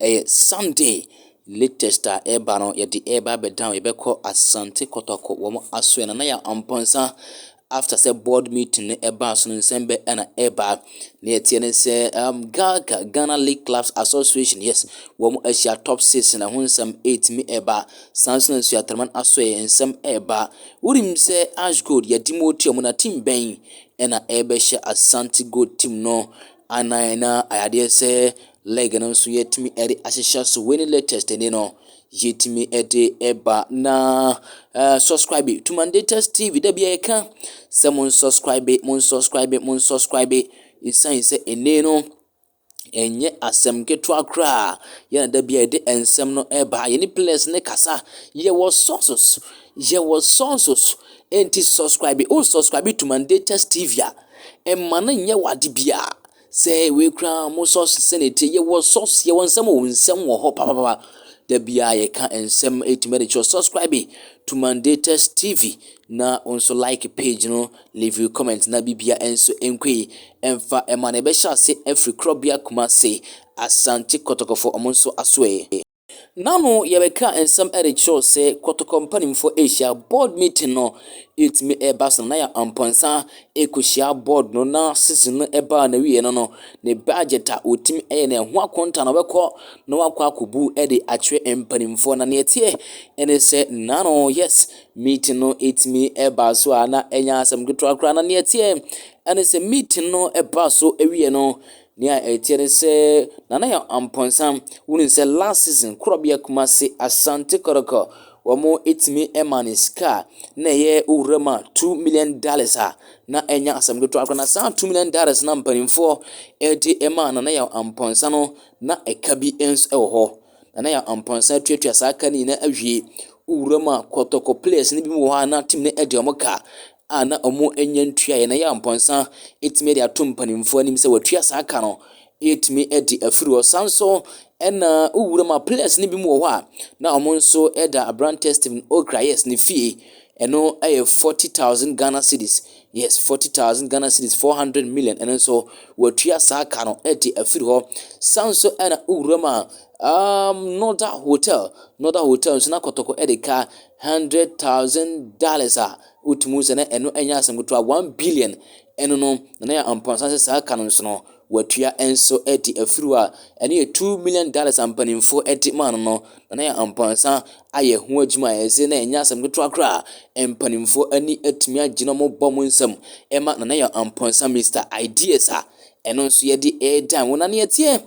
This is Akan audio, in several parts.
Ɛyɛ Sunday latest a ɛreba no, yɛde ɛreba abɛdan, yɛbɛkɔ Asante Kɔtɔkɔ wɔn asoɛ no, na yɛ mpɔnsa after sɛ board meeting no ɛbaa so no nsɛm bɛ ɛna ɛba na yɛteɛ ne sɛ um, gaga ghana league clubs association yes wɔn ahyia top six na ho nsɛm ɛtumi ɛba saa nso na nso atraman aso yɛ nsɛm ɛba wonim sɛ ash gold yɛde mu otua mu na team bɛn ɛna ɛbɛhyɛ asante gold team no anan na ayadeɛ sɛ Leg no nso yɛtumi de ahyehyɛ so wei ne latest ni no yɛtumi de ɛba na uh, subscribe to mandatus tv da bia yɛka sɛ mo nsubscribe mo nsubscribe mo nsubscribe ɛsiane sɛ ɛnne no ɛnyɛ asɛm ketewa koraa yɛna da bia yɛde nsɛm no ɛba yɛne players ne kasa yɛwɔ sources yɛwɔ sources ɛnti subscribe o subscribe to mandatus tv a ɛma no nyɛ wade biara sɛ wei koraa wɔn sɔs sɛnɛ ɛteɛ yɛwɔ sɔs yɛwɔ nsɛm wɔ nsɛm wɔ hɔ papapapa da bia yɛka nsɛm ɛtumi de kyerɛ subscribe to mandatus tv na nso like page no leave you comment na bibia nso nkɔi ɛmfa ɛma na ɛbɛhyɛ ase afiri korɔbea kuma se asante kɔtɔkɔfo ɔmo nso asoɛ N'ano yɛbɛka nsɛm de kyerɛ wo sɛ kɔtɔkɔ mpanimfoɔ rehyia board meeting no ɛtumi reba so na yɛ ampɔnsa ɛkɔhyia board no na season no ɛbaa na wie no no ne budget a wɔtumi ɛyɛ na ɛho akonta na wɔbɛkɔ na wakɔ akɔbu ɛde akyerɛ mpanimfoɔ na neɛ teɛ ɛne sɛ nano yes meeting no ɛtumi ɛbaa so a na ɛnya asɛm ketewa koraa na neɛ teɛ ɛne sɛ meeting no ɛbaa so ɛwie no Nea ɛteɛ ne sɛ Nana yɛ ɔmpɔnsam. Wonim sɛ last season Korɔbea Kumasi Asante Kɔtɔkɔ wɔtumi maa no sika a na ɛyɛ owura mu a two million dollars a na ɛnyɛ asɛm ketewa koraa. Na saa two million dollars na mpanimfoɔ ɛde maa Nana yɛ ɔmpɔnsa no na ɛka bi nso ɛwɔ hɔ. Nana yɛ ɔmpɔnsa tuatua saa ka no nyinaa awie. Owura mu a Kɔtɔkɔ players no bi wɔ hɔ a na team no ɛde wɔn ka a na wɔnnya ntuaeɛ na ɛyɛ a mpɔnsa tumi de ato mpanimfoɔ anim sɛ wɔatua saa ka no ɛtumi di afiri hɔ san so ɛna wowura ma players no bi mu wɔ hɔ a na wɔn nso ɛda aberantɛ Stephen Okra yes ne fie ɛno ɛyɛ forty thousand Ghana cedis yes forty thousand Ghana cedis four hundred million ɛno nso wɔatua saa ka no ɛde afiri hɔ san so ɛna wowura ma um, Norda Hotel Norda Hotel nso na kɔtɔkɔ ɛde ka hundred thousand dollars a Wotumi hu sɛ na ɛno nyɛ asɛm ketewa. One billion ɛno no, na na yɛ mpɔnsa sɛ saa ka no nso no, watua nso de afiri hɔ a ɛno yɛ two million dollars a mpanimfoɔ de maa no no, na na yɛ mpɔnsa ayɛ ho adwuma a ɛsɛ na ɛnyɛ asɛm ketewa koraa. Mpanimfoɔ ani atumi agye na wɔbɔ mo nsam ɛma na na yɛ mpɔnsa Mister Ideas a ɛno nso yɛde ɛredan wo na neɛ teɛ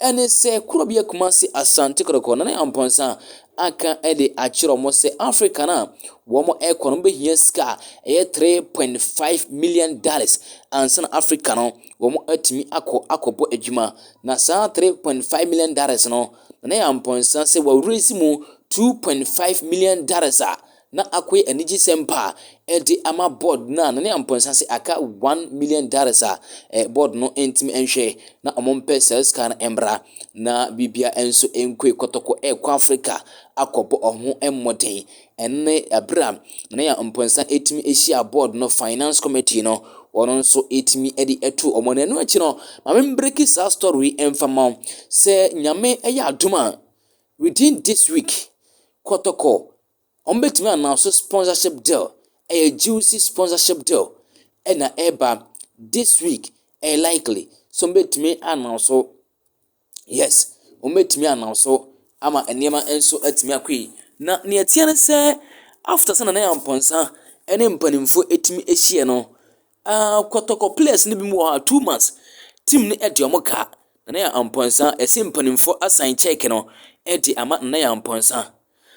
Ɛne sɛ, kuro bi yɛ Kumasi Asante Kɔtɔkɔ na ne Ampɔnsa aka de akyerɛ wɔn sɛ Africa no a wɔn rekɔ no wɔbɛhia sika a ɛyɛ 3.5 million dollars ansa na Africa no wɔn atumi akɔ akɔbɔ adwuma na saa 3.5 million dollars no na ne Ampɔnsa sɛ wɔresi mu 2.5 million dollars a na akoe anigyesɛm pa de ama board no a na ne ampɔnsase aka one million dollars a board no ntumi nhwɛ, na wɔmpɛ saa sika no mmra, na biribia nso nkoe kɔtɔkɔ rekɔ Africa akɔbɔ wɔn ho mmɔden. Ɛnne bere a na ne ampɔnsa tumi hyia board no finance committee no, wɔn nso tumi de ɛto wɔn na ɛno akyi no, ma me mbreki saa story mfa ma wo. Sɛ nyame yɛ adom a, within this week, kɔtɔkɔ wɔbɛtumi announce sponsorship deal ɛyɛ juicy sponsorship deal ɛna ɛba this week ɛyɛ likely so wɔbɛtumi announce so yes wɔbɛtumi announce so ama nneɛma nso atumi akɔ yi na nea ɛteɛ ne sɛ after sɛ nana yɛ mpɔnsa ɛne mpanimfoɔ ɛtumi ahyia no Ah, kɔtɔkɔ players no bi mu wɔ hɔ a two months team no ɛde ɔmo kaa Nana Yaa Ampɔnsa ɛsɛ mpanimfoɔ asan check no ɛde ama Nana Yaa Ampɔnsa.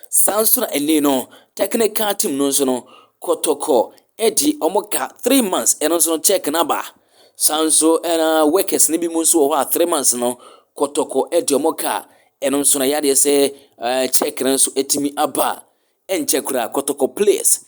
Saa nso na ɛnɛ no technical team no nso no kɔtɔkɔ ɛde ɔmo ka three months ɛno nso no check no aba. Saa nso ɛna workers no bi mu nso wɔ hɔ a three months no kɔtɔkɔ ɛde ɔmo ka ɛno nso na yadeɛ sɛ check no nso ɛtumi aba ɛnkyɛ koraa kɔtɔkɔ players.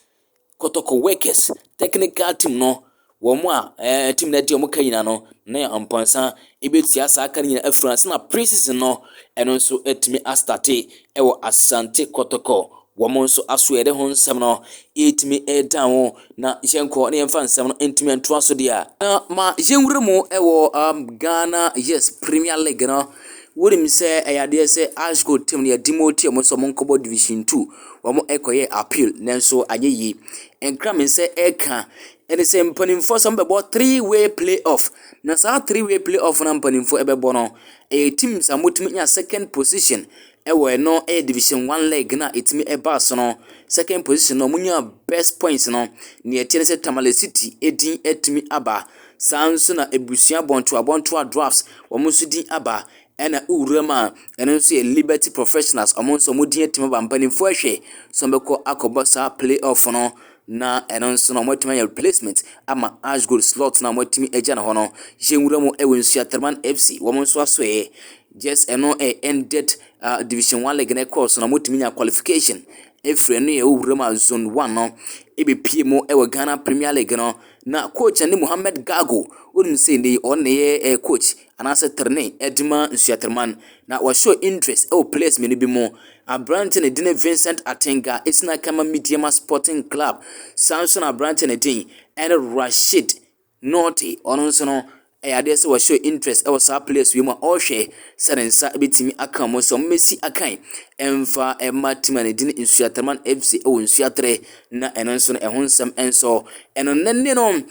Kɔtɔkɔ workers technical team no, wɔn a ɛɛ team no adi wɔn ka nyinaa no, na yɛ mpɔnsa ebetua saa ka no nyinaa afiri ase na pre-season no ɛno nso atumi astate ɛwɔ Asante Kɔtɔkɔ. Wɔn nso aso yɛde ho nsɛm no ɛtumi ɛda ho na yɛnkɔ na yɛmfa nsɛm no ntumi ntoa so deɛ. Na ma yɛnwura mu ɛwɔ um, Ghana yes Premier League no. Wonim sɛ ɛyɛ adeɛ sɛ Ash Gold team no yɛde mu ɔte wɔn nso wɔn nkɔbɔ Division Two. wɔkɔyɛɛ appeal nanso anyɛ yie. Nkrame nsa reka ne sɛ mpanimfoɔ sɛ wɔbɛbɔ three way play off. Na saa three way play off no a mpanimfoɔ bɛbɔ no, ɛyɛ teams a wɔtumi nya second position wɔ ɛno ɛyɛ division one leg no a ɛtumi ba so no. Second position no wɔnya best points no, deɛ ɛteɛ ne sɛ Tamale City din atumi aba. Saa ara nso na abusua bɔntoa bɔntoa Dwarfs wɔn nso din aba. Ɛna wura mu a ɛno nso yɛ Liberty Professionals, wɔn nso wɔn din atim aba mpanimfoɔ ahwɛ sɛ wɔbɛkɔ akɔbɔ saa play off no na ɛno nso na wɔatumi ayɛ replacement ama Ash Gold slot na wɔatumi agya no hɔ no. Yɛn wura mu ɛwɔ nsu Atraman FC, wɔn nso asoɛɛ just ɛno ɛyɛ ended uh, division one league na ɛkɔɔ so na wɔatumi nya qualification ɛfiri ɛno yɛ wura mu a zone one no ɛbɛpie mu ɛwɔ Ghana Premier League no na coach ne Mohammed Gago wonim sɛ ne ɔne yɛ eh, coach anaasɛ trenee de ma nsuatreman, na wɔhyɛɛ Indres wɔ players mmienu bi mu. Aberante no din ne Vincent Atenga, ɛsini aka ma Medeama Sporting Club. Saa nso na aberante no din ne Rashid Norte. Ɔno nso no, ɛyɛ adeɛ sɛ wɔhyɛɛ Indres wɔ saa players wei mu a ɔrehwɛ sɛ ne nsa bɛtumi aka mu sɛ wɔmmɛsi akan ɛmfa ɛma tim a ne din Nsuatreman FC wɔ Nsuatre, na ɛno nso no ɛho nsɛm nso. Ɛno ne ne no,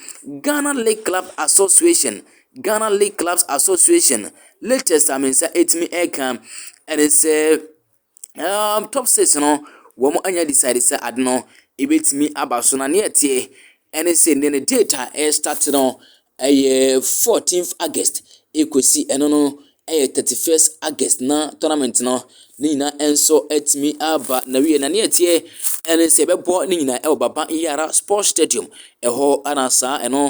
Ghana League Club Association Ghana League Clubs Association latest a me nsa etumi ɛka ɛne sɛ um, top six no wɔn anya decide sɛ ade no ebetumi aba so na ne ɛteɛ ɛne sɛ ne ne date a ɛrestart no ɛyɛ 14th August ekosi ɛno no ɛyɛ 31st August na tournament no ne nyinaa nso atumi aba n'awie na nea ɛteɛ ɛne sɛ ɛbɛbɔ ne nyinaa ɛwɔ Baba Yara Sports Stadium ɛhɔ ana saa ɛno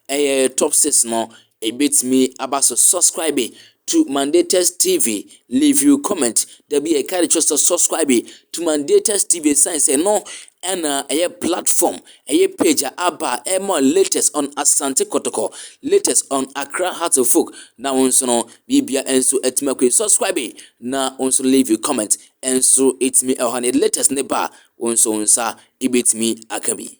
ɛyɛ top six no ɛbɛtumi aba so subscribe to Mandatus TV leave you comment da bi ɛka de kyerɛ sɛ subscribe to Mandatus TV sane sɛ no ɛna ɛyɛ platform Ɛyɛ page a aba a ɛma latest on Asante Kotoko, latest on Accra Hearts of Oak na wo nso no biribia nso atumi akɔ yi. Subscribe na wo nso leave a comment nso ɛtumi ɛwɔ ha na yɛde latest ne ba a wo nso wo nsa ɛbɛtumi aka bi.